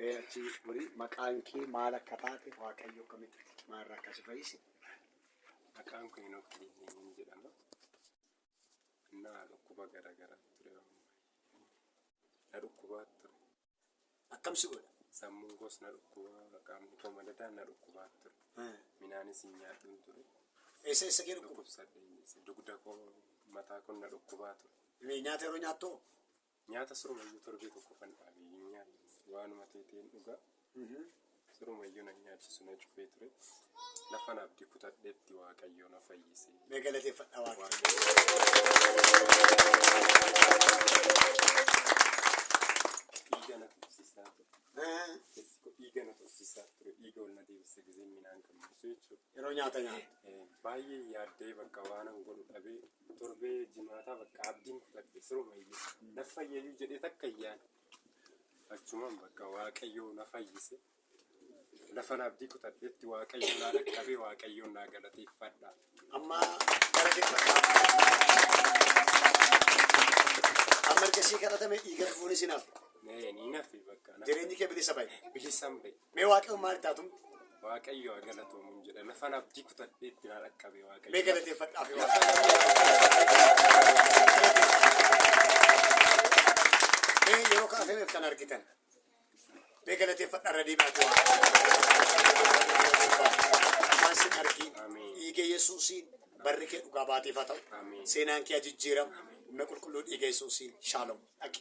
Ee achi horii maqaan kee maal akka taate waaqayyo akkamitti maalirraa akka si fayyise. Maqaan koo Henook Kiliitiin jedhama. Innaa dhukkuba garaa garaa ture. Na dhukkubaa ture. Akkam si godha? Sammuun koos na dhukkubaa, qaamni koo madadaa na dhukkubaa ture. Minaanis hin nyaadhuun ture. Eessa eessa kee dhukkuba? Dhukkubsadhee dugda koo mataa koo na dhukkubaa ture. Nyaata yeroo nyaattu Nyaata sirumayyuu torbee tokkofan dhaabe hin nyaanne. Waanuma ta'e ta'een dhuga. Sirumayyuu na nyaachisu na cufee ture. Lafan abdii kutadhetti Waaqayyoo na fayyise. Mee galateeffadha Waaqayyo. Dhiiga na tursiisaa ture. Eh, Keessi koo dhiiga na tursiisaa ture. Dhiiga ol na deebise gizeen minaan gammachiisu jechuudha. Yeroo nyaata nyaata. Eh, Baay'ee yaaddee bakka waanan godhu dhabee Torbee jimaataa bakka abdiin kutadhe sirumayyuu na fayyayyuu jedhee takka hin yaane. Achumaan bakka waaqayyoo na fayyise. Lafan abdii kutadhetti waaqayyoo naa dhaqqabee waaqayyoon naa galateeffadha. Amma gara Amma erga sii kadhatame dhiiga fufuun isin hafe. Ni nafe bakka. Jireenyi kee bilisa bahe. Bilisaan bahe. Mee waaqayyoon maal itti haatumte? Waaqayyo haa galatoomuun jedha. Lafan abdii kutadhee itti naa dhaqqabe waaqayyo. Mee galateeffadhaaf yoo Mee yeroo kana seeneef kan argitan. Mee galateeffadhaa irra deebi'aatu waan. Waan sin argiin. Ameen. Dhiiga Yesuusiin barri kee dhugaa baateef haa ta'u. Ameen. Seenaan kee haa jijjiiramu. Humna qulqulluu dhiiga Yesuusiin shaaloom. Dhaqi.